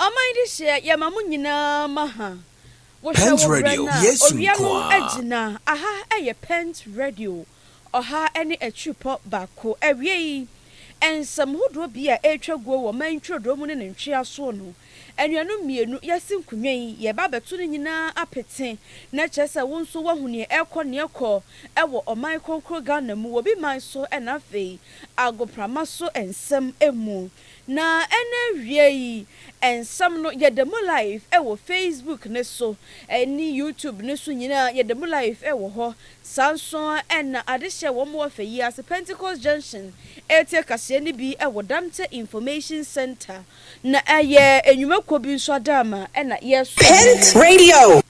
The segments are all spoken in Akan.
Ɔman dehyeɛ yɛma mo nyinaa ma ha Wohwɛ wo berɛ no a owia no agyina Aha yɛ Pent Radio ɔha ne akyirepɔ baako Awiei nsɛm hodoɔ bi a ɛretwa guo wɔ ɔman ntwirodoɔ mu ne ne ntweasoɔ no Anuanom mmienu, yɛasi nkonnwa yi, yɛreba abɛto ne nyinaa apete, na kyerɛ sɛ wo nso woahu nea ɛrekɔ nea ɛkɔ wɔ ɔman kronkron Ghana mu, wɔ bi man so na afei agoprama so nsɛm mu. Na ɛna awiei nsɛm no, yɛda mu live wɔ Facebook no so ne YouTube no so nyinaa, yɛda mu live wɔ hɔ. Saa nso ara na ade hyɛɛ wɔn wɔ fɛ yi ara sɛ Pentecost Junction retie kaseɛ no bi wɔ Dante Information Centre na ɛyɛ nnwumakuo bi nso adaama na yɛresom no Pent wɔ. Radio.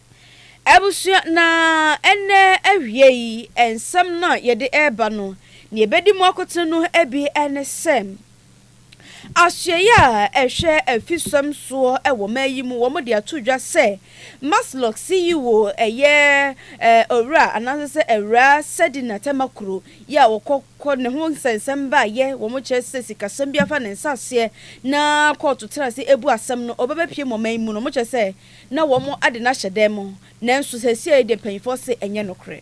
Abusua, na ɛnnɛ awiei nsɛm no a yɛde reba no, nea ɛbɛdi mu akoten no bi ne sɛ, Asoɛeɛ a ɛhwɛ afisɛm soɔ wɔ man yi mu, wɔde ato dwa sɛ Maslok CEO yɛ Owura anaasɛ sɛ Awuraa Sedina Tamakuro yɛ a wɔkɔ kɔ ne ho nsɛnsɛm baayɛ wɔn kyerɛ sɛ sikasɛm bi afa ne nsa aseɛ na kɔɔto tena ase ɛbu asɛm no ɔbɛbɛ pie mu ɔman mu no wɔkyerɛ sɛ na wɔn ade no ahyɛ dɛn mu nanso sɛsiɛi deɛ mpanyinfoɔ se ɛnyɛ nokorɛ.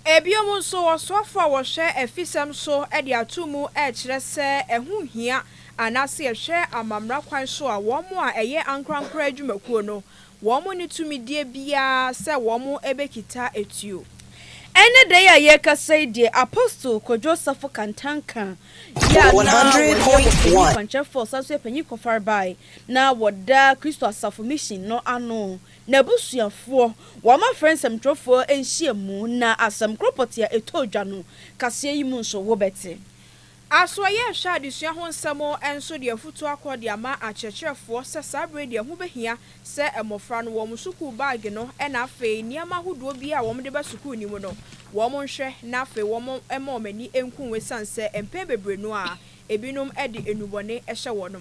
Ɛbiom nso ɔsoafo a wɔhwɛ afisɛm so de ato mu ɛkyerɛ sɛ ɛho hia anaase ɛhwɛ amammra kwan so a wɔn a ɛyɛ ankorankora adwumakuo no wɔn nni tumidie biara sɛ wɔbɛkita atuo. Ɛnnɛ da yi a yɛrekasa yi deɛ, Apostle Kwadwo Safo Kantanka yi a na ɔyɛ ɔpanyin kwankyerɛfoɔ san nso yɛ panyin kɔfarebae na ɔda Kristo Asafo Mission no ano, n'abusuafoɔ, wɔn afrɛ nsɛmtwerɛfoɔ nhyiamu na asɛm korɔ pɔtee a ɛtɔɔ dwa no kaseɛ yi mu nso wobɛte. Aso ɛyɛ nhwɛ a adesua ho nsɛm nso de afutuo akɔ de ama akyerɛkyerɛfoɔ sɛ saa berɛ yi deɛ ɛho bɛhia sɛ mmɔfra no wɔn sukuu baage no ɛna afei nneɛma ahodoɔ biara a wɔn de ba sukuu no mu no wɔn nhwɛ na afei wɔn mma wɔn ani nku ho ɛsiane sɛ mpɛn bebree no a ebinom de nnubɔne hyɛ wɔn ho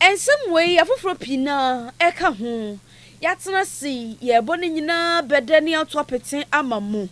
Nsɛm wei afoforɔ pii no ara ka ho. Yɛatena ase yi, yɛrebɔ ne nyinaa bɛ dɛ na yɛato apete ama mo.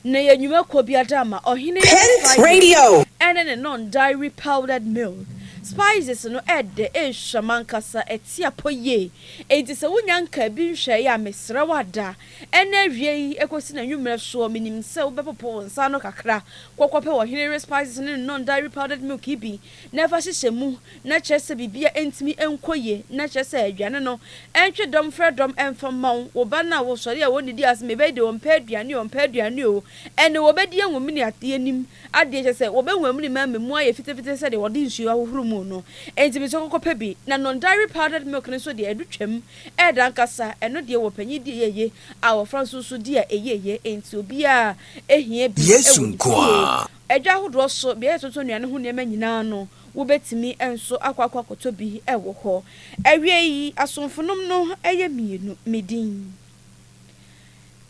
Na yɛ nnwuma kɔ biada ma ɔhene no spices ne ne non-dairy powdered milk. Spices no ɛdɛ, ɛhwam ankasa, ɛte apɔ yie. Enti sɛ wonya nkaa bi nhwɛeɛ a, mesrɛ wo ada, ɛnnɛ awia yi ɛkɔsi n'anwummerɛ soɔ, menim sɛ wobɛpopo wo nsa ano kakra kɔ kɔpɛ ɔhene no spices ne ne non-dairy powdered milk yi bi. na fa hyehyɛ mu na kyerɛ sɛ biribiara ntumi nkɔ yie na kyerɛ sɛ aduane no ntwe dɔm frɛ dɔm mfa mma wo wo ba no a wosɔre a wɔnnidi ase ma ɛbɛyɛ deɛ ɔmpɛ aduane o ɔmpɛ aduane o ɛnne wɔbɛdi anwamini adeɛ nim adeɛ kyerɛ sɛ wɔbɛnwamini ma ama mu ayɛ fitafita te sɛ deɛ wɔde nsuo ahohoro mu no enti mesrɛ kɔkɔ pɛ bi na non dairy powdered milk no nso deɛ ɛdo twam ɛɛdɛ ankasa ɛno deɛ wɔ panyin di a ɛyɛ yie a abɔfra nso nso di a ɛyɛ yie enti obiara hia bi Yesu wɔ ne nko fie ara Adwa ahodoɔ so beaɛ yɛtoto nnuane ho nneɛma nyinaa no wobɛtumi nso akɔ akɔ akɔtɔ bi wɔ hɔ. Awiei asomfonom no yɛ mmienu. Me din.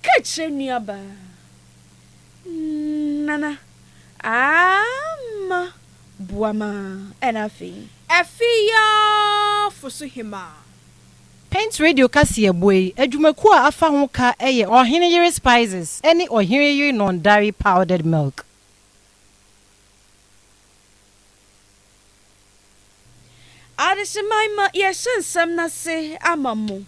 Ka kyerɛ nuabaa. Nana, aamma boa ma ɛna afei. Afei aa foso hemaa. Paint Radio kaseɛbɔ yi adwumakuo a afa ho ka yɛ Ɔhene Yere Spices ne Ɔhene Yere Non Dairy Powdered Milk. Adesamma ma yɛahyɛ nsɛm no ase ama mo,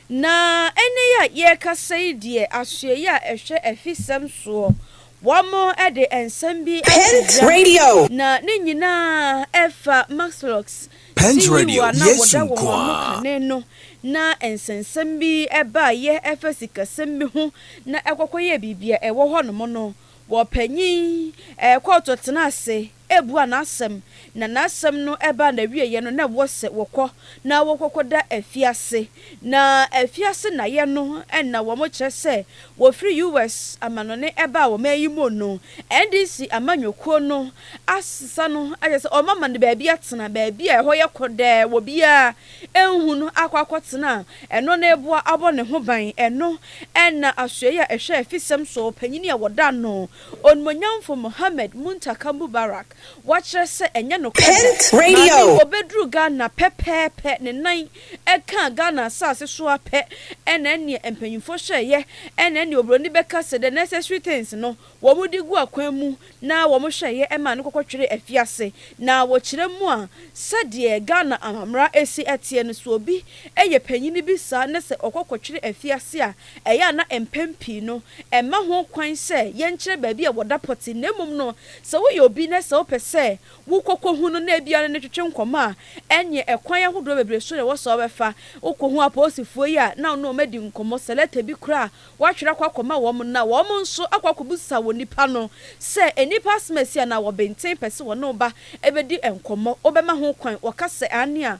na ɛnnɛ yi a yɛrekasa yi deɛ asoɛeɛ a ɛhwɛ afisɛm soɔ, wɔde nsɛm bi ato dwa, na ne nyinaa fa Maxlocks Pɛnj Radio, Yesu nko ara! Kane no na nsɛnsɛm bi baeɛ ɛfa sikasɛm bi ho na ɛkɔkɔyɛɛ biribi a ɛwɔ hɔ nom no wɔ panyin kɔɔto tena ase ɛbua n'asɛm na n'asɛm no ɛbaa n'awieɛ no na ɛwɔ sɛ wɔkɔ na wɔkɔkɔda afiase na afiase naeɛ no na wɔn kyerɛ sɛ wɔfiri US amanɔne ɛbaa ɔman yi mu no NDC amanyɔkuo no asesa no akyerɛ sɛ wɔn ama no baabi atena, baabi a ɛhɔ yɛ kɔdɛɛ, obiara nhu no akɔ akɔtena a, ɛno na ɛboa abɔ ne ho ban. Ɛno na Asoɛeɛ a Ɛhwɛ Afisɛm Soɔ Panin a wɔda no, Onimuonyamfo Mohammed Muntaka Mubarak wakyerɛ sɛ ɛnyɛ nokorɛ da. Maa no, ɔbɛduruu Ghana pɛpɛɛpɛ ne nan ɛkaa Ghana asase so ara pɛ na ɛneɛ mpanyimfoɔ hyɛɛ yɛ na ɛneɛ obroni bɛka sɛ the necessary things no wɔn de gu akwan mu na wɔn hwɛɛ yɛ ɛmaa no kɔkɔ tweree afiase na wɔkyerɛ mu a sɛdeɛ Ghana amamera ɛsi ɛteɛ no sɛ obi yɛ panyini bi saa na sɛ ɔkɔ kɔtwere afiase a ɛyɛ a na mpɛn pii no ɛmma ho kwan sɛ yɛnkyerɛ baabi a wɔda pɔte na mmom no sɛ woyɛ obi na sɛ wopɛ sɛ Wokɔkɔhu no na ebia ɔne no twetwe nkɔmmɔ a, ɛnneɛ ɛkwan ahodoɔ bebree so na ɛwɔ sɛ wobɛfa. Wokɔhu apolisifoɔ yi a, na wo ne wɔn adi nkɔmmɔ, sɛ lɛta bi koraa a, woatwerɛ akɔ akɔma wɔn no, na wɔn nso akɔ akɔbisa wɔn nipa no sɛ nnipa asɛm asi anaa wɔbenten pɛ sɛ wɔne wo ba bɛdi nkɔmmɔ, wobɛma ho kwan? Wɔka sɛ aane a,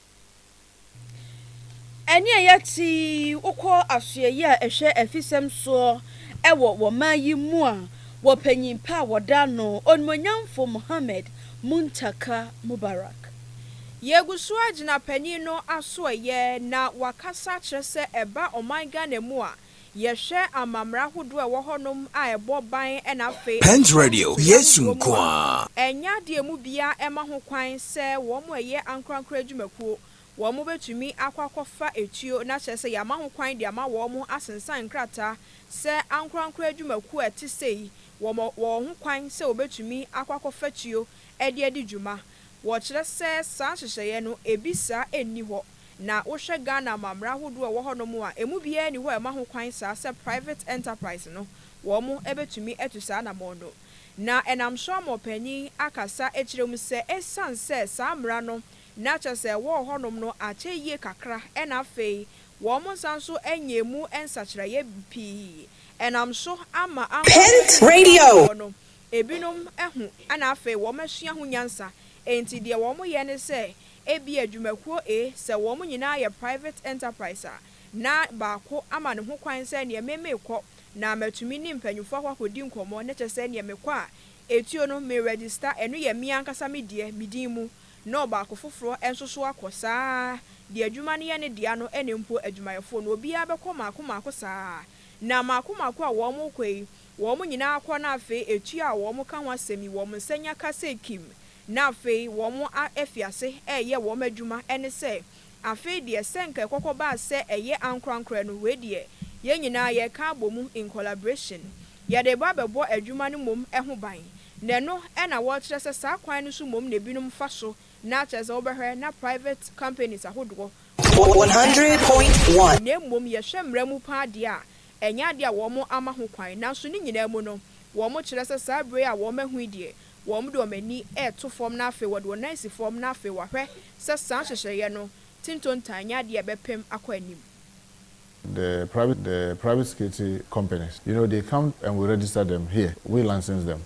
Ɛnneɛ yɛte wo kɔ asoɛeɛ a ɛhwɛ afisɛm soɔ wɔ wɔ man yi mu a wɔ panyin pa a wɔda no Onimuonyamfo Mohammed Muntaka Mubarak. Yɛgu so agyina panyin no asoɛeɛ na wakasa akyerɛ sɛ ɛba ɔman Ghana mu a Yɛhwɛ amammerɛ ahodoɔ a ɛwɔ hɔnom a ɛbɔ ban na afei ɛmfa Pent Radio, ntua Yesu ntoɔ mu nko a, ara. ɛnyɛ adeɛ a ɛmu biara ɛma ho kwan sɛ wɔn a ɛyɛ ankorankoro adwumakuo wɔn bɛtumi akɔ akɔfa etuo na kyerɛ sɛ yɛama ho kwan de ama wɔn asensan nkrataa sɛ ankorankoro adwumakuo a ɛte sei wɔn wɔ ho kwan sɛ wɔbɛtumi akɔ akɔfa tuo de adi dwuma. Wɔkyerɛ sɛ saa nhyehyɛeɛ no, ebi saa nni hɔ. Na wohwɛ Ghana amammerɛ ahodoɔ a ɛwɔ hɔnom a, ɛmu biara nni hɔ a ɛma ho kwan saa sɛ private enterprise no, wɔn bɛtumi atu saa anammɔn no. Na ɛnam so ama ɔpanyin akasa akyerɛ mu sɛ ɛsiane sɛ saa mmara no na kyerɛ sɛ ɛwɔ hɔnom no akyɛ yie kakra na afei wɔnsan nso nyɛɛ mu nsakyeraeɛ pii nam so ama ankorankoro nnipa a wɔwɔ hɔ no Ebinom ahu na afei wɔasua ho nyansa, enti deɛ wɔyɛ ne sɛ ebia dwumakuo A sɛ wɔn nyinaa yɛ private enterprise a, na baako ama ne ho kwan sɛ neɛ me mekɔ na matumi ne mpanyinfoɔ hɔ akɔdi nkɔmmɔ na kyerɛ sɛ neɛ mekɔ a etuo no me register ɛno yɛ me ankasa me deɛ me din mu na ɔbaako foforɔ nso so akɔ saa deɛ adwuma no yɛ ne dea no ne mpo adwumayɛfoɔ no obiara bɛkɔ mmaako mmaako saa na mmaako mmaako a wɔn rekɔ yi Wɔn nyinaa kɔ na afei etua a wɔn ka ho asɛm yi wɔn nsa nya ka sɛ kim na afei wɔn a afi ase ɛɛyɛ wɔn adwuma ɛne sɛ afei deɛ sɛ nka ɛkɔkɔ baa sɛ ɛyɛ ankorankorɛ no wei deɛ yɛn nyinaa yɛ ka abɔ mu in collaboration yɛde ba bɛbɔ adwuma no mmom ho ban na ɛno ɛna wɔkyerɛ sɛ saa kwan no so mmom na ebinom fa so na kyerɛ sɛ wobɛhwɛ na private companies ahodoɔ wɔn one hundred point one. Na mmom yɛhwɛ mmara mu paa deɛ a Ɛnyɛ ade a wɔama ho kwan, nanso ne nyinaa mu no, wɔkyerɛ sɛ saa bere a wɔahu yi deɛ, wɔde wɔn ani reto fam na afei wɔde wɔn nan si fam na afei wɔahwɛ sɛ saa nhyehyɛeɛ no te ntontan nyɛ adeɛ a ɛbɛpem akɔ anim. The private the private security companies, you know, they come and we register them here, we license them.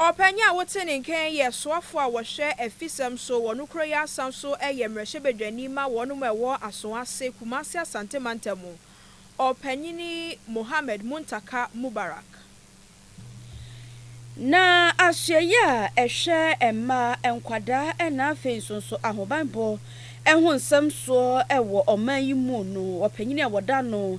Ɔpanyin a wote ne nkan yɛ soafo a wɔhwɛ afisɛm so wɔ no kuro yi asa nso yɛ mmarahyɛbadwani ma wɔnom a ɛwɔ Asoase, Kumasi Asante Mantam mu. Ɔpanyin Mohammed Muntaka Mubarak. Na Ahyiaeɛ a ɛhwɛ mmaa, nkwadaa na afei nso nso ahobanbɔ ho nsɛm soɔ wɔ ɔman yi mu no ɔpanyin a wɔda no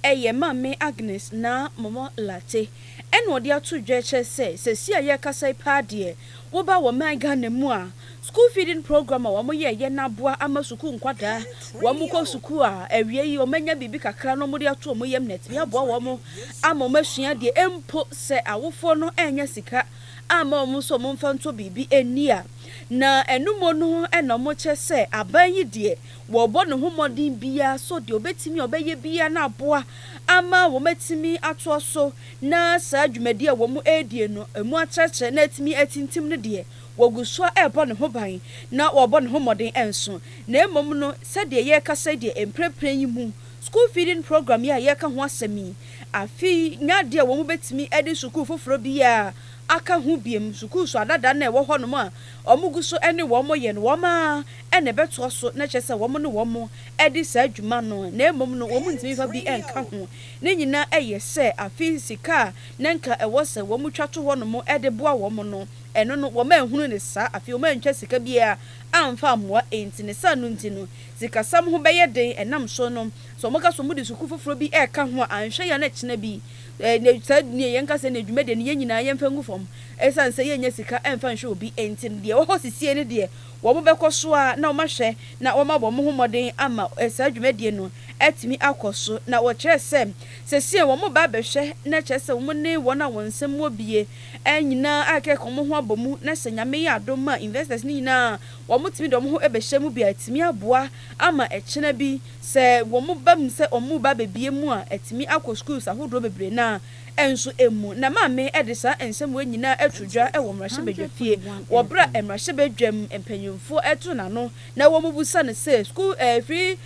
Ɛyɛ Maame Agnes Naa Momɔ Lartey ɛna ɔde ato dwa kyerɛ sɛ sɛsi a yɛrekasa yi paa deɛ woba wɔ man Ghana mu a school feeding program a wɔn yɛɛyɛ no aboa ama sukuu nkwadaa wɔn kɔ sukuu a awie yi wɔn anya biribi kakra na wɔn de ato wɔn yam na atumi aboa wɔn ama wɔn asua adeɛ mpo sɛ awofoɔ no annya sika amma wɔn nso wɔn mfa ntɔ biribi nni a na ɛno mu no ɛna wɔkyerɛ sɛ aban yi deɛ Wɔrebɔ ne ho mmɔden biara sɛ ɔde obetumi a ɔbɛyɛ biara na aboa ama wɔatumi atoa so na saa dwumadi a wɔredie no mu atrɛtrɛ na atumi atintim no deɛ, wɔgu so ara rebɔ ne ho ban na wɔrebɔ ne ho mmɔden nso. Na mmom no, sɛdeɛ yɛrekasa yi deɛ, mprɛnprɛn yi mu, School Feeding Program yi a yɛreka ho asɛm yi, afe yi nyɛ adeɛ a wɔbɛtumi de sukuu foforɔ biara aka ho bio. Sukuu so adada no a ɛwɔ hɔnom a wɔgu so ne wɔn yɛ no, wɔn ara na ɛbɛtoa so na ɛkyerɛ sɛ wɔn ne wɔn de saa dwuma no na mmom no wɔn ntumi mfa bi nka ho. Ne nyinaa yɛ sɛ afei sika a na nka ɛwɔ sɛ wɔn twa to hɔnom de boa wɔn no, ɛno no wɔn anhunu no saa, afei wɔn antwa sika biara amfa ammoa enti ne saa no nti no sikasɛm ho bɛyɛ den ɛnam so no sɛ wɔn ka sɛ wɔn de sukuu foforɔ bi reka ho a anhwɛ yɛ a na ɛkyena bi na saa nea yɛn ka sɛ nea dwumadie no yɛn nyinaa yɛn mfa ngu fam ɛsiane sɛ yɛn nya sika mfa nhwɛ obi enti no deɛ ɛwɔ hɔ sesie no deɛ Wɔbɛkɔ so ara na wɔahwɛ na wɔama wɔn ho mmɔden ama saa dwumadie no atumi akɔ so. Na wɔkyerɛɛ sɛ seesei wɔreba abɛhwɛ na kyerɛ sɛ wɔn ne wɔn a wɔn nsam wɔ bie nyinaa ayɛ kɛkɛ, wɔn ho abɔ mu na sɛ Nyame yɛ adom a investors no nyinaa a wɔtumi de wɔn ho bɛhyɛ mu bi a atumi aboa ama ɛkyena bi sɛ wɔn ba mu sɛ wɔreba abɛbie mu a atumi akɔ schools ahodoɔ bebree no a nso mu na Maame de saa nsɛmmoa nyinaa ato dwa wɔ mmarahyɛbadwafie wɔ berɛ a mmarahyɛbadwam mpanimfoɔ to n'ano na wɔbisa no sɛ school free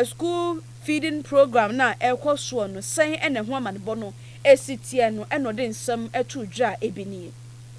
school feeding program no a ɛrekɔ soɔ no sɛn na ɛho amanebɔ no si teɛ no na ɔde nsɛm to dwa a ebi nie.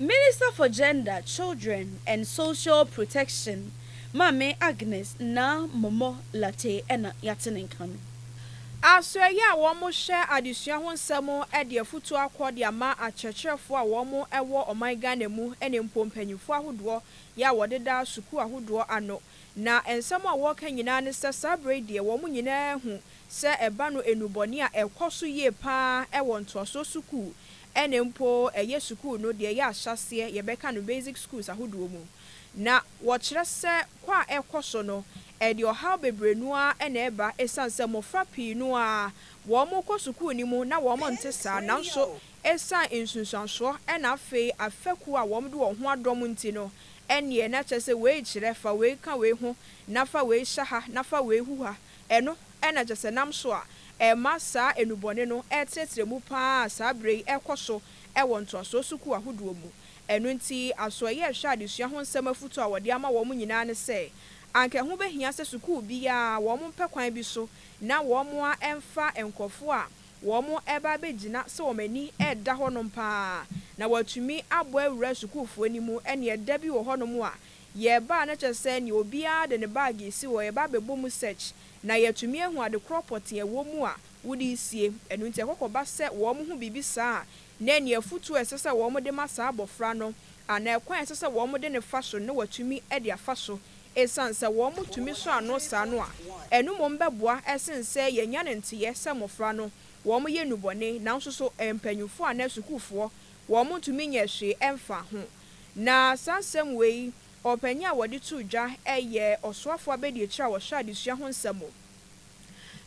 Minister for Gender, Children and Social Protection, Maame Agnes Naa Momoh Lartey na yɛate ne nka no. Asoɛeɛ a wɔhwɛ adesua ho nsɛm de afutuo akɔ de ama akyerɛkyerɛfoɔ a wɔn wɔ ɔman Ghana mu ne mpo mpaninfoɔ ahodoɔ yɛ a wɔdeda sukuu ahodoɔ ano na nsɛm a wɔka nyinaa ne sɛ saa berɛ yi deɛ wɔn nyinaa ahu Sɛ ɛba no nnubɔne a ɛkɔ so yie paa wɔ ntoasoɔ sukuu ɛne mpo ɛyɛ sukuu no deɛ ɛyɛ ahyɛaseɛ yɛbɛka no basic schools ahodoɔ mu na wɔkyerɛ sɛ kɔ a ɛkɔ so no ɛde ɔhaw bebree no ara na ɛba ɛsiane sɛ mmɔfra pii no ara wɔn kɔ sukuu no mu na wɔn nte saa nanso ɛsiane nsunsuansoɔ ɛna afei afɛkuo a wɔn de wɔn ho adɔm nti no ɛneɛ na kyerɛ sɛ wei kyerɛ fa wei ka wei ho na fa wei hyɛ ha na fa wei hu ha Ɛno na kyerɛ sɛ nam so a ɛma saa nnubɔne no retrɛtrɛ mu pa ara a saa berɛ yi rekɔ so wɔ ntoasoɔ sukuu ahodoɔ mu. Ɛno nti, asoɛeɛ rehwɛ adesua ho nsɛm afotuo a wɔde ama wɔn nyinaa ne sɛ, anka ɛho bɛhia sɛ sukuu biara wɔmpɛ kwan bi so na wɔamfa nkurɔfoɔ a wɔreba abɛgyina sɛ wɔn ani reda hɔnom pa ara na wɔatumi abɔ awura sukuufoɔ no mu, ɛnneɛ da bi wɔ hɔnom a Yɛreba a na kyerɛ sɛ nea obiara de ne bag resi hɔ, yɛba abɛbɔ mu search na yɛatumi ahu ade korɔ pɔtee a ɛwɔ mu a wode resie. Ɛno nti ɛkɔkɔba sɛ wɔhu biribi saa a, na ɛnneɛ afotuo a ɛsɛ sɛ wɔde ma saa abɔfra no anaa ɛkwan a ɛsɛ sɛ wɔde no fa so no na wɔatumi de afa so. Ɛsiane sɛ wɔtumi sɔ ano saa no a, ɛno mmom bɛboa sene sɛ yɛanya no nteeɛ sɛ mmɔfra no wɔyɛ nnubɔne nanso so mpanimfoɔ anaa sukuufoɔ wɔntumi nyɛɛ hwee mfaa ho. Na saa nsɛm wei, ɔpanyin a wɔde too dwa yɛ Ɔsoafo Abadiakyiri a ɔhwɛ adesua ho nsɛm wɔ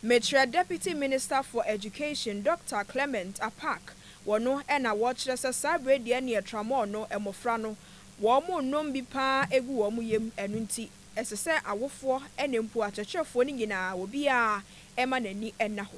Mekyerɛ Deputy Minister for Education, Dɔkta Clement Apaak, wɔ no na wɔkyerɛ sɛ saa bere deɛ neɛ Tramol no mmofra no wɔnnom bi pa ara ɛgu wɔn yam ɛno nti ɛsɛ sɛ awofoɔ ne mpo akyerɛkyerɛfoɔ no nyinaa obiara ɛma n'ani ɛna hɔ.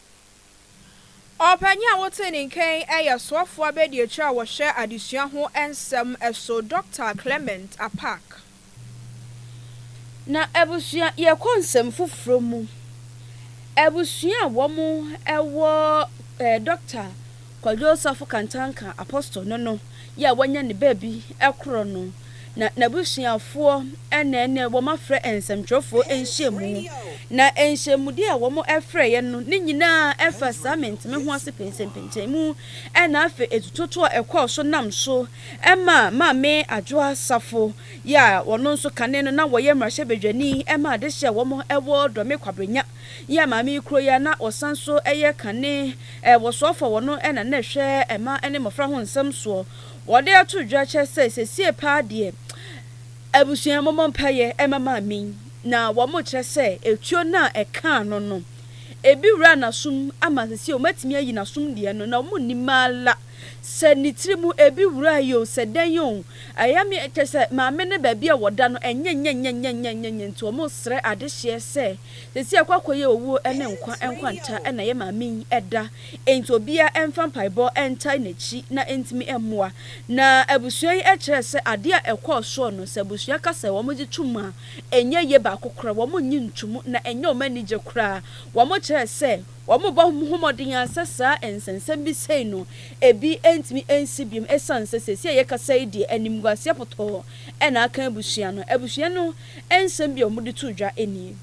Ɔpanyin a wotee ne nka yi yɛ soafo abadiakyiri a wɔhwɛ adesua ho nsɛm so, Dɔkta Clement Apaak. Na abusua, yɛkɔ nsɛm foforɔ mu, abusua a wɔn wɔ ɛɛ Dɔkta Kwadwo Osafo Kantanka Apostol ne no yɛ a wanya ne baabi korɔ no, na n'abusuafoɔ na ɛnnɛ wɔafrɛ nsɛmtwerɛfoɔ nhyiamu, na nhyiamudie a wɔfrɛeɛ no ne nyinaa fa saa menteme ho ase pɛnsɛmpɛnsɛn mu, na afei atutotoɔ a ɛkɔɔ so nam so maa Maame Adwoa Safo yɛ a ɔno nso kane no na ɔyɛ mmarahyɛbadwani maa adehyeɛ a wɔwɔ Dɔme Kwabranya. yɛ maame yi kuro yi a na ɔsan nso yɛ kane wɔsoafo a wɔno na na ɛhwɛ mma ne mmɔfra ho nsɛm soɔ. Wɔde ato dwa kyɛ sɛ sesie paa deɛ abusua mommɔ mpaeɛ ɛma maame yi na wɔn kyerɛ sɛ etuo no a ɛkaa no no ebi wura nasom ama sesie wɔn atumi ayi nasom deɛ no na wɔn nnim ala. Sɛ ne tiri mu ebi wura yi o, sɛ dɛn o, ɛyɛ me kyɛ sɛ maame no baabi a wɔda no ɛnyɛ nyɛnyɛnyɛnyɛnyɛnyɛ nti wɔresrɛ adehyeɛ sɛ seesei akɔ akɔyɛ owuo ne nkwa nkwanta na ɛyɛ maame yi da nti obiara mfa mpaebɔ ntae n'akyi na ɛntumi mmoa na abusua yi kyerɛ sɛ adeɛ a ɛkɔɔ soɔ no sɛ abusua ka sɛ wɔgye tom a ɛnyɛ yie baako korɔ wɔnnye ntomu na ɛnyɛ wɔn anigye koraa wɔkyerɛ sɛ Wɔbɔ ho mmɔden ara sɛ saa nsɛnsɛm bi sei no ebi ntumi nsi biom esiane sɛ seesei a yɛkasa yi deɛ animguaseɛ pɔtɔɔ na aka abusua no. Abusua no nsɛm bi a wɔde too dwa nie.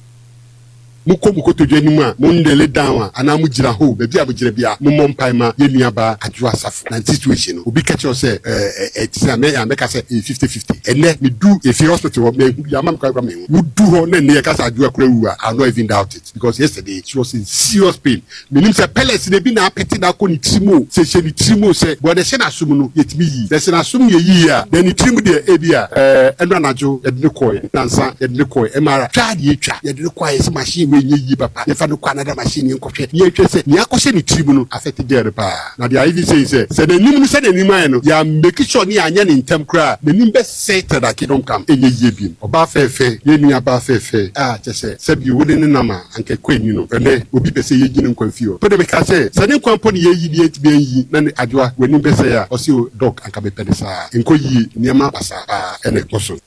Mokɔ mo kotodwe anim a, mo knele down a, anaa mo gyina hoo, baabi a mo gyina biara, mo mmɔ mpae ma yɛn nua baa Adwoa Asafo. Na ne situation no, obi ka kyerɛ wo sɛ ɛɛ ɛte sɛn a, mɛyɛ a mɛka sɛ ɛyɛ fifty fifty. Ɛnnɛ, me duu Efie Hospital hɔ, manhu biaa, ama me kwan kura me ho. Wo du hɔ na nneyɛ ka sɛ Adwoa kura awu a, I will not even doubt it. because yesterday she was in serious pain menim sɛ pellets no ebi na apete no akɔ ne tirim o sɛ ɛhyɛ ne tirim o sɛ but na ɛhyɛ n'asom no yɛtumi yii na sɛ n'asom yɛ yiie a then ne tirim deɛ ebia ɛɛ ɛno anadwo yɛde no kɔɔɛ nansa yɛde no kɔɔɛ MRI twa na yɛtwa yɛde no kɔɔɛ sɛ machine wei nyɛ yie papa yɛmfa no kɔ another machine yɛnkɔhwɛ na yɛnhwɛ sɛ nea akɔhyɛ ne tirim no affect girl no paa na deɛ I even say sɛ sɛ n'anim no sɛdeɛ n'anim ayɛ no yɛammake sure ne yɛanyɛ no ntɛm koraa a n'anim bɛ Sighted a kingdom come ɛnyɛ yie bim ɔbaa fɛɛfɛɛ yɛn nua baa fɛɛfɛɛ a kyɛ sɛ sɛ bi wo ne no nam a anka ɛkɔ ani no ɛnɛ obi pɛ sɛ yɛyi ne nkwa mfi hɔ mpo de mekaa sɛ sɛ ne nkwa mpo ne yɛyi ne yɛntumi anyi na ne adwoa w'anim bɛsɛe a ɔse oh doc anka mepɛ no saa ɛnkɔ yie nneɛma basaa paa ɛna ɛkɔ so.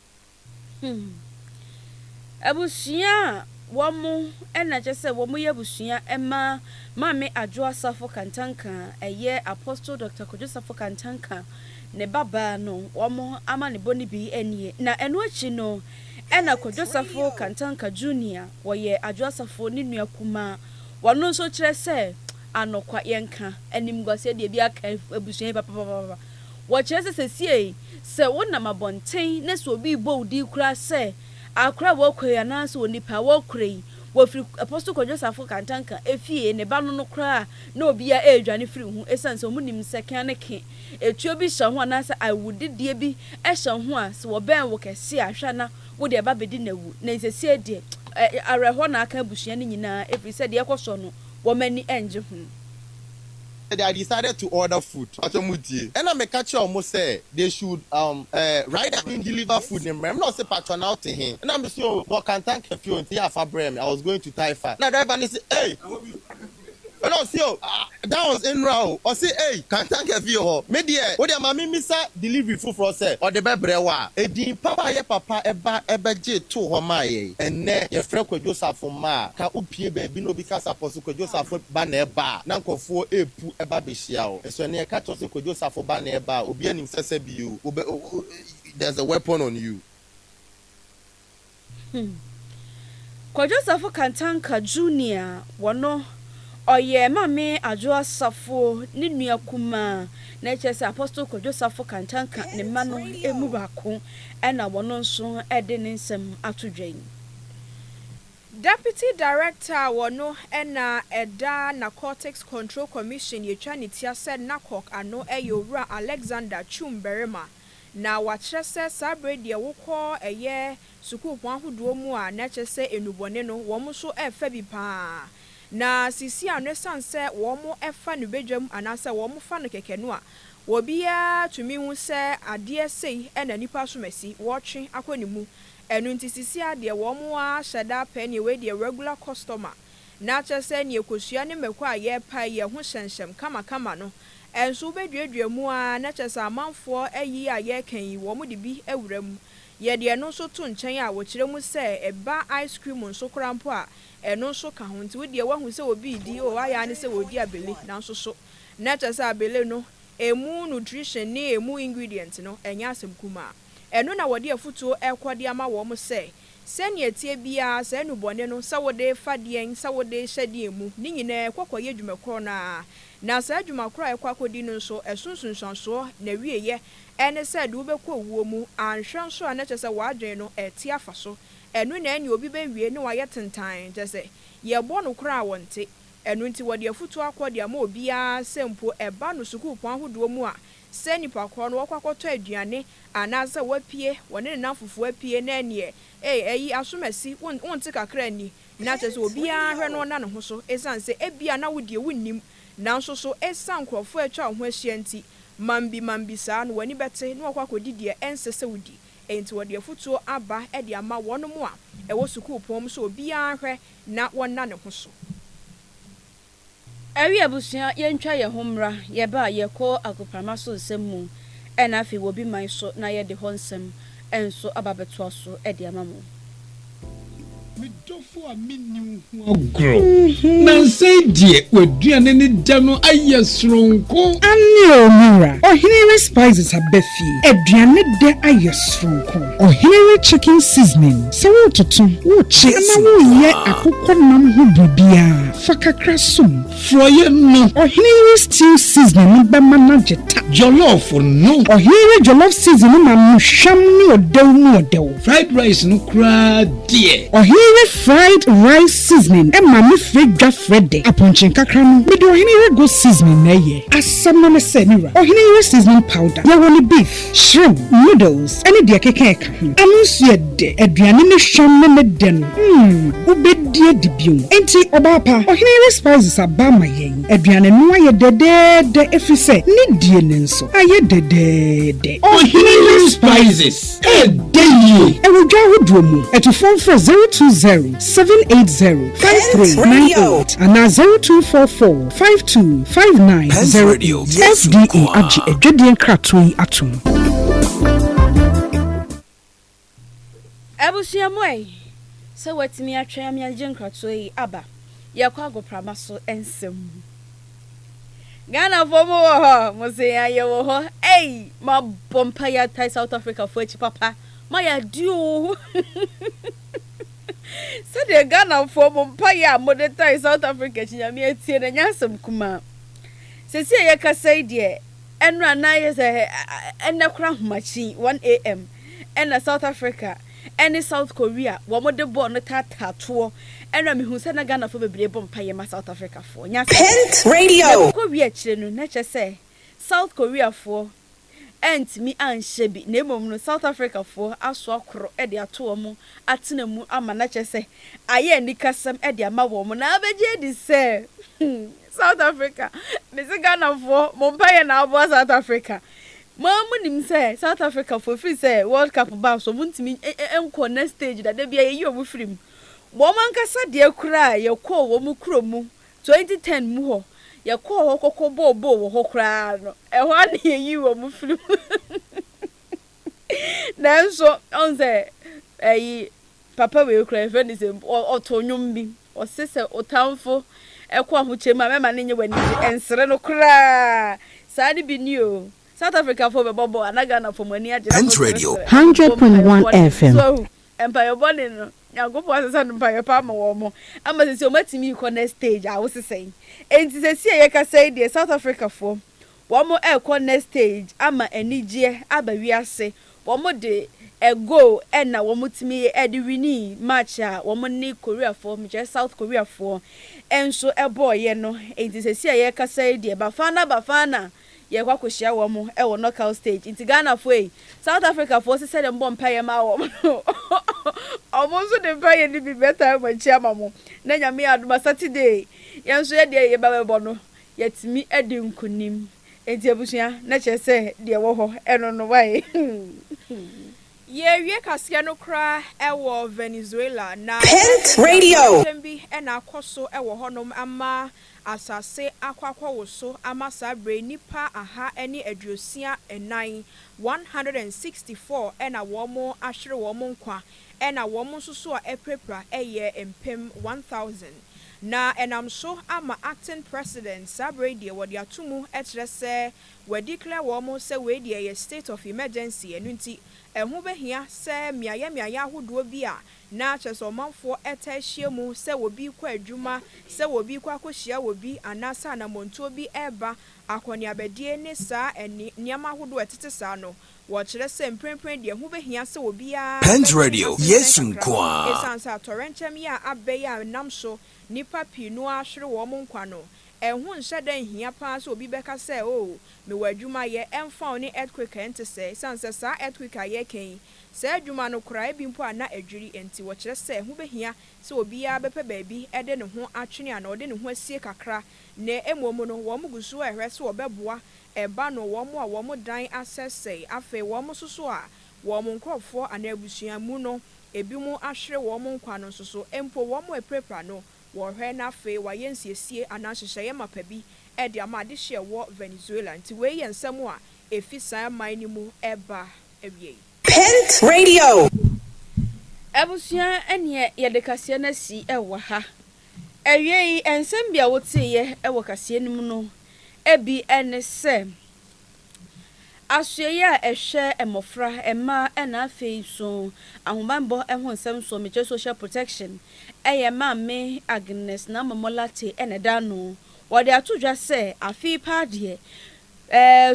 Hmm abusua a wɔn ɛna kyɛ sɛ wɔn yɛ abusua ɛma maame adwoa safo kantanka ɛyɛ apostle Doctor Kojo safo kantanka ne ba baa no wɔn amanebɔ no bi nie, na ɛno akyi no ɛna Kwadwo Safo Kantanka Junior wɔyɛ Adwo Asafo ne nua kumaa, wɔno nso kyerɛ sɛ anokwa yɛnka animguaseɛ deɛ ebi aka abusua yi papapapapa, wɔkyerɛ sɛ sesiei sɛ wonam abɔnten na sɛ obi rebɔ wo din koraa sɛ akora a wɔkɔ yi anaa sɛ onipa a wɔkora yi wɔfiri Apostle Kwadwo Safo Kantanka efie ne ba no no koraa na obiara ɛredwane firi ho esiane sɛ wɔnim sɛ kea ne ke etuo bi hyɛ ho anaasɛ awudideɛ bi hyɛ ho a, sɛ wɔbɛn wo kɛse a, hwɛ a na wode ɛba bɛdi no awu. Na seesei deɛ, ɛ, awerɛhoɔ na aka abusua no nyinaa, ɛfiri sɛ deɛ ɛrekɔ soɔ no, wɔn ani nnye ho. They had decided to order food. Mpakyɛw mo tie. Ɛna me ka kyerɛɛ wɔn sɛ they should um eh, rider in deliver food ne mmerɛ me. Ɛna ɔse pakyɛw na wote he? Ɛna me se oh, mewɔ Kantanka fie o, nti yɛ a fa brɛ me, I was going to Taifa. Ɛna driver no se ei! Ɛna ɔse oh ah that was nnora oh ɔse ei kantanka fie hɔ me deɛ wo deɛ ma me mmisa delivery foforɔ sɛ ɔde bɛbrɛ wo a edin pa wayɛ papa ɛba ɛbɛgye too hɔ maa yɛn ɛnnɛ yɛfrɛ kwadwo safo mma a ka wo pie baabi na obi ka sapɔ so kwadwo safo ba na ɛba a na nkorɔfoɔ epu ɛba behyia wo nso ɛnnɛ yɛka kyerɛ wo sɛ kwadwo safo ba na ɛba a obiara nim sɛ sɛbi o wobɛ there's a weapon on you. Kwadwosafo Kantanka Junior wɔ no ɔyɛ Mame Adwo Asafo ne nua kumaa na ɛkyerɛ sɛ Apostle Kwadwosafo Kantanka ne mma no mu baako na wɔno nso de ne nsɛm ato dwa yi. Deputy Director wɔ no na ɛda Narcotics Control Commission yɛtwa ne tia sɛ NACOC ano yɛ Owura Alexander Twum Barima na wɔakyerɛ sɛ saa bere deɛ wokɔ ɛyɛ sukuupɔn ahodoɔ mu a na ɛkyerɛ sɛ nnubɔne no wɔn nso refa bi pa ara. Na sisi a no ɛsiane sɛ wɔfa no badwam anaasɛ wɔfa no kɛkɛ no a obiara tumi hu sɛ adeɛ sei na nnipa asomasi wɔretwe akɔ ne mu ɛno nti sisi ara deɛ wɔn ara hyɛ da pɛ neɛ wei deɛ regular customer na kyerɛ sɛ nea kosua ne mako a yɛrepae yi ɛho hyɛmhyɛm kamakama no nso wobeduadua mu ara na kyerɛ sɛ amanfoɔ ayi a yɛreka yi wɔde bi awura mu. Yɛde ɛno nso to nkyɛn a wɔkyerɛ mu sɛ ɛba ice cream nso koraa mpo a ɛno nso ka ho nti wo deɛ woahu sɛ obi redi oo ayɛ ara ne sɛ ɔredi abele nanso so na kyerɛ sɛ abele no ɛmu nutrition ne ɛmu ingredient no ɛnyɛ asɛm kumaa. Ɛno na wɔde afotuo rekɔ de ama wɔn sɛ Sɛnea ɛteɛ biara, saa nnubɔne no, sɛ wode refa deɛn, sɛ wode rehyɛ deɛn mu, ne nyinaa ɛkɔ kɔyɛ adwuma korɔ no ara. Na saa adwuma korɔ a ɛkɔ akɔdi no nso, ɛso nsunsuansoɔ, n'awieeɛ, ɛne sɛ ɛde wo bɛkɔ owuo mu, anhwɛ nso a na kyerɛ sɛ w'adwene no ɛrete afa so. Ɛno na ɛne obi bɛwie na wayɛ tentann, kyerɛ sɛ, yɛrebɔ no koraa a ɔnte. Ɛno nti wɔde afutuo akɔ de ama obiara sɛ mpo ɛba no sukuupɔn ahodoɔ mu a, sɛ nipa korɔ no wakɔ akɔtɔ aduane anaa sɛ wapue wɔne ne nam fofoɔ apue na ɛneɛ ei ɛyi asomasi wo wo nte kakra nni na kyerɛ sɛ obiara hwɛ no na ne ho so ɛsiane sɛ ɛbia na wo deɛ wo nnim nanso so ɛsiane nkorɔfoɔ a atwa wo ho ahyia nti mambi mambi saa no w'ani bɛte na wakɔ akɔdi deɛ ɛnsɛ sɛ wodi ɛnti wɔde afutuo aba de ama wɔnom a ɛwɔ sukuu pɔn mu sɛ obiara hwɛ na wɔnna ne ho so. Awie abusua yɛntwa yɛn ho mmra, yɛba a yɛkɔ agoprama so nsɛm mu ɛna afei wɔ bi man so na yɛde hɔ nsɛm nso aba abɛtoa so de ama mo. Me dɔfo a menni wo ho agorɔ. Nansa yi deɛ w'aduane no dɛ no ayɛ soronko. Anne o me wura, ɔhene re spices aba fie, aduane dɛ ayɛ soronko. Ɔhene re chicken seasoning, sɛ wototo, wokye anaa woyɛ akokɔ nam ho biribiara. Fa kakra som forɔeɛ no. Ɔhene yi stew seasoning no bɛma no agye ta. Jollof no. Ɔhene yi jollof seasoning no ma no hwam ne ɔdɛw mu ɔdɛw. Fried rice no koraa deɛ. Ɔhene yi fried rice seasoning ma no frɛ dwa frɛ dɛ. Apɔnkye nkakra no, mede ɔhene yi goat seasoning na ɛyɛ. Asɛm no ne sɛ, me wura, ɔhene yi seasoning powder, yɛwɔ no beef. Shrimp, noodles ne deɛ ɛkeka ɛka ho. Ano nso yɛ dɛ. Aduane ne hwam ne ne dɛ no, mm, wobɛdi adi bio. Enti, ɔbaa pa, Ɔhene Yere Spices aba ama yɛn. Aduane no ayɛ dɛdɛɛdɛ ɛfiri sɛ ne die no nso ayɛ dɛdɛɛdɛ. Ɔhene Yere Spices, ɛdɛ yie! Ɛwɔ dwa ahodoɔ mu. Atufoɔ mfrɛ 020 780 5398 anaa 0244. five two five nine zero eight. FDA agye adwadie nkratoɔ yi atom. Abusua mu ɛyɛ sɛ watumi atwɛn ama yɛagye nkratoɔ yi aba. Yɛkɔ agoprama so nsɛm mu. Ghanafoɔ mo wɔ hɔ? Mo se yɛn a yɛwɔ hɔ. Ei! Mabɔ mpaeɛ atae South Africafoɔ akyi papa. Moayɛ adeɛ o! Sɛdeɛ Ghanafoɔ mo mpaeɛ a mode tae South Africa akyi Nyame atie no ɛnyɛ asɛm kumaa. Sɛsi a yɛkasa yi deɛ ɛnora na ayɛ sɛ ɛnɛ koraa ahomakyin, one AM, ɛna South Africa ɛne South Korea wɔn de bɔɔ no taataa toɔ. Ɛnora mehunu sɛ na Ghanafoɔ bebree bɔ mpaeɛ ma South Africafoɔ. Ɛnyɛ asɛm kumaa. Ɛkɔ wie akyire no na kyerɛ sɛ South Koreafoɔ antumi anhyɛ bi na mmom no South Africafoɔ asoa koro de ato wɔn atena mu ama na kyerɛ sɛ ayɛ anikasɛm de ama wɔn na abɛgye adi sɛ South Africa mese Ghanafoɔ mo mpaeɛ na aboa South Africa mo ara mo nim sɛ South Africafoɔ ɛfiri sɛ World Cup baa so wɔn ntumi nkɔ next stage da da bia yɛyi wɔn firi mu wɔn ankasa deɛ koraa yɛkɔɔ wɔn kuro mu 2010 mu hɔ, yɛkɔɔ hɔ kɔkɔ bɔɔ bɔɔl wɔ hɔ koraa no, ɛhɔ ara na yɛyii wɔn firii mu. Nanso, ɔhu sɛ, ɛyi, papa wei koraa, yɛfrɛ no sɛ, ɔ, ɔtoo nnwom bi, ɔse sɛ otamfo kɔ ahokyɛ mu a, mɛma no nyɛ w'anigye, ɛnsere no koraa. Saa ne bi ni o. South Africafoɔ bɛbɔ bɔɔl a, na Ghanafoɔ, mo ani agye, na moseresere. Hundred point one FM, Mpaeɛ bɔne no Nyankopɔn asesa no mpaeɛ pa ama wɔn ama sɛsei wɔn atumi rekɔ next stage a wosesa yi nti sɛsei a yɛkasa yi deɛ South Africa foɔ wɔn rekɔ next stage ama anigyeɛ aba wiase wɔn de a goal ɛna wɔn tumi ɛde winii match a wɔn ne Korea foɔ mekyerɛ South Korea foɔ nso ɛbɔɔyɛ no nti sɛsei a yɛkasa yi deɛ Bafana Bafana Yɛkɔ akɔhyia wɔn wɔ knockout stage nti Ghanafoɔ ei, South Africafoɔ nso sɛdeɛ mobɔ mpaeɛ maa wɔn no wɔn nso de mpaeɛ no bi bɛtaa wɔn akyi ama mo na Nyame adom a Saturday yɛn nso yɛ deɛ yɛba bɛbɔ no yɛatumi adi nkunim nti abusua na kyerɛ sɛ deɛ ɛwɔ hɔ no no wae. Yɛawie kaseɛ no koraa wɔ Venezuela na ɛsɛ sɛ yɛhunu sɛ ɔyɛkyɛm bi na akɔ so wɔ hɔnom ama asase akɔ akɔwoso ama saa berɛ yi nnipa aha ne aduosia nnan, one hundred and sixty four, na wɔn ahwere wɔn nkwa, ɛna wɔn nso so a apirapira yɛ mpem one thousand. Na ɛnam so ama acting president saa berɛ yi deɛ wɔde ato mu kyerɛ sɛ wa declare wɔn sɛ wei deɛ yɛ state of emergency, ɛno nti ɛho bɛhia sɛ mmeaeɛ mmeaeɛ ahodoɔ bi a Ná kyerɛ sɛ ɔmanfoɔ taa hyia mu sɛ wɔbi rekɔ adwuma, sɛ wɔbi rekɔ akɔhyia wɔbi, anaasɛ anammɔntuo bi reba, akɔneabadie ne saa nneɛma ahodoɔ a ɛtete saa no. Wɔkyerɛ sɛ mprempren deɛ ɛho bɛhia sɛ obiara bɛtwe ne ho asensɛn kakra no, ɛsiane sɛ atɔrɛnkyɛm yea abɛn a ɛnam so nnipa pii no ara hwere wɔn nkwa no. Ɛho nhyɛ da nhia pa ara sɛ obi bɛka sɛ, Oh, mewɔ adwuma yɛ, ɛmfa wo ne earthquake a ɛnte sɛɛ, ɛsiane sɛ saa earthquake a yɛreka yi Saa adwuma no koraa, ebi mpo a na adwiri nti, wɔkyerɛ sɛ ɛho behia sɛ obiara bɛpɛ baabi de ne ho atwene anaa ɔde ne ho asie kakra. Nnɛ mmom no, wɔgu so rehwɛ sɛ wɔbɛboa ɛba no wɔn a wɔn dan asɛesɛe. Afei wɔn nso so a wɔn nkurɔfo anaa abusua mu no ebinom ahwere wɔn nkwa no nso so, mpo wɔn a apirapira no, wɔrehwɛ na afei wɔayɛ nsiesie anaa nhyehyɛe mapa bi de ama adehye a ɛwɔ Venezuela. Enti wei yɛ nsɛm a efi saa man no mu ba. awiei. Pent Radio. Abusua ɛneɛ yɛde kaseɛ no asi wɔ ha. Awiei nsɛm bi a woteeɛ wɔ kaseɛ no mu no bi ne sɛ, Asoɛeɛ a ɛhwɛ mmɔfra, mmaa na afei nso ahobanbɔ ho nsɛm soɔ, mekyerɛ social protection, yɛ Maame Agnes Naamamoh Lartey na ɛda ano. Wɔde ato dwa sɛ, afe yi paa deɛ,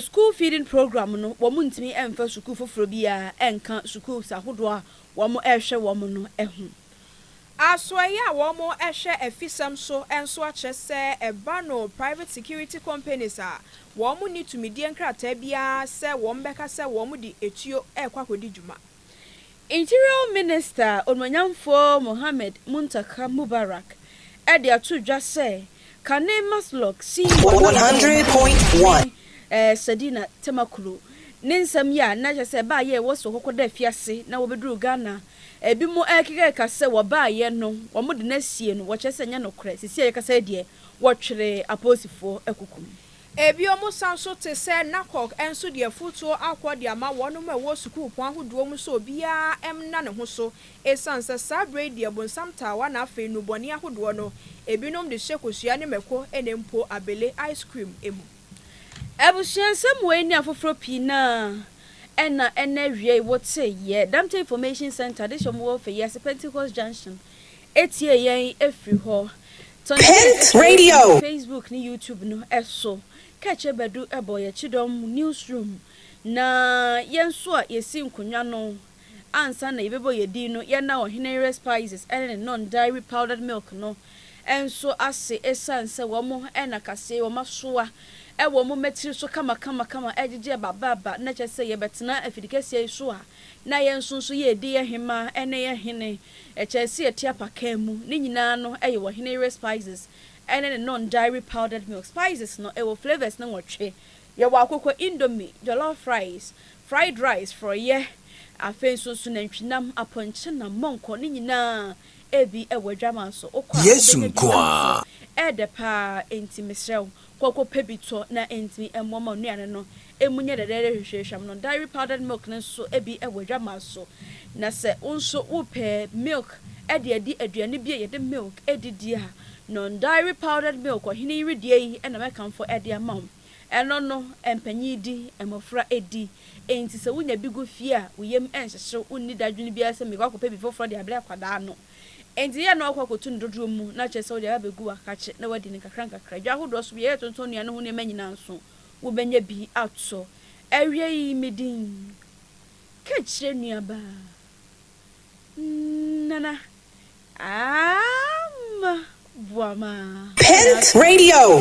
School feeding program no wɔn ntumi mfa sukuu foforɔ biara nka schools ahodoɔ a wɔn rehwɛ wɔn no ho. Asoɛeɛ a wɔn hwɛ afisɛm so nso akyerɛ sɛ ɛba no private security companies a wɔn nni tumidie nkrataa biara sɛ wɔn bɛka sɛ wɔn de etuo rekɔ akɔdi dwuma. Interior Minister Onuonyamfoɔ Mohamed Muntaka Mubarak de ato dwa sɛ kane Maslok si Ɔmanfoɔ Mpanyinfoɔ Panyin Sadina Temaklo ne nsɛm yi a na kyerɛ sɛ baayɛ wɔ sɛ wɔkɔkɔ da afiase na wɔbɛduru Ghana ebi mo ɛrekekaka sɛ wɔbaayɛ no wɔde no asie no wɔkyerɛ sɛ ɛnyɛ nokorɛ, sesie a yɛkasa yi deɛ wɔtwere apolisifoɔ akuku no. Ebio mo sa nso te sɛ Nakok nso de afutuo akɔ de ama wɔnom a ɛwɔ sukuupɔn ahodoɔ mu sɛ obiara mna ne ho so esiane sɛ saa berɛ yi deɛ bonsam taawa na afei nnubɔne ahodoɔ no ebinom de hyɛ kosua ne mako ne mpo abele, ice cream, mu. Abusua nsɛm wei ne afoforɔ pii no ara ɛna ɛna awiei wote yɛ Dante Information Centre de hyɛ wɔn wɔ Fɛyiase Pentecost Junction Etie yɛn firi hɔ. Tɔ ne Pent Pent Radio Radio! wɔ Facebook ne YouTube no so. Kɛkyɛ Badu bɔ yɛ Kyidɔm Newsroom, na yɛn nso a yɛsi nkonnwa no ansa na yɛbɛbɔ yɛn din no, yɛnna Ɔheneyere Spices ne ne Non Dairy Powdered Milk no nso ase ɛsiane sɛ wɔn na kaseɛ yi wɔasoa wɔn mmatiri so kama kama kama ɛregyegye aba aba aba na kyerɛ sɛ yɛbɛtena afidikɛseɛ yi so a na yɛ nso nso yɛ di yɛ hema ɛne yɛ hene ɛkyɛ ɛsi ɛti apakaa mu ne nyinaa no ɛyɛ wɔ hene yere spices ɛne ne non dairy powdered milk spices no ɛwɔ flavours no nwɔtwe yɛ wɔ akoko indomie jollof rice fried rice frɔyɛ afei nso nso nantwinam apɔnkye nam mɔnkɔ ne nyinaa ɛbi ɛwɔ adwama nso wokɔ a Yesu wobɛnya bi nko ara. ɛnso ɛɛdɛ paa ɛnti mesrɛ wo kɔ kɔ pɛ bi tɔ na ɛnti ɛmmoa ma wo nnuane no emu nyɛ dɛdɛɛdɛ hwehwɛhwam no, dairy powdered milk no nso bi wɔ adwammaa so. Na sɛ wo nso wopɛ milk de adi aduane bi a yɛde milk di di a, non dairy powdered milk ɔhene yi wedeɛ yi na mɛkamfo de ama wo. Ɛno no, mpanyin di, mmofra di. Enti sɛ wunya bi gu fie a, wo yam nhyehye wo, wunni dadwene biara sɛ mekɔ akɔpɛ bi foforo de abrɛ akwadaa no. Enti yɛ a na woakɔ akɔtu no dodoɔ mu, na kyerɛ sɛ wode aba abegu w'akakye na woadi no nkakrankakra. Dwa ahodoɔ so bi a yɛyɛ tontɔn nnuane ho nneɛma nyinaa nso, wobɛnya bi ato. Awiei me din ka kyerɛ nuabaa Nana Aah ma boa ma. Pent Radio.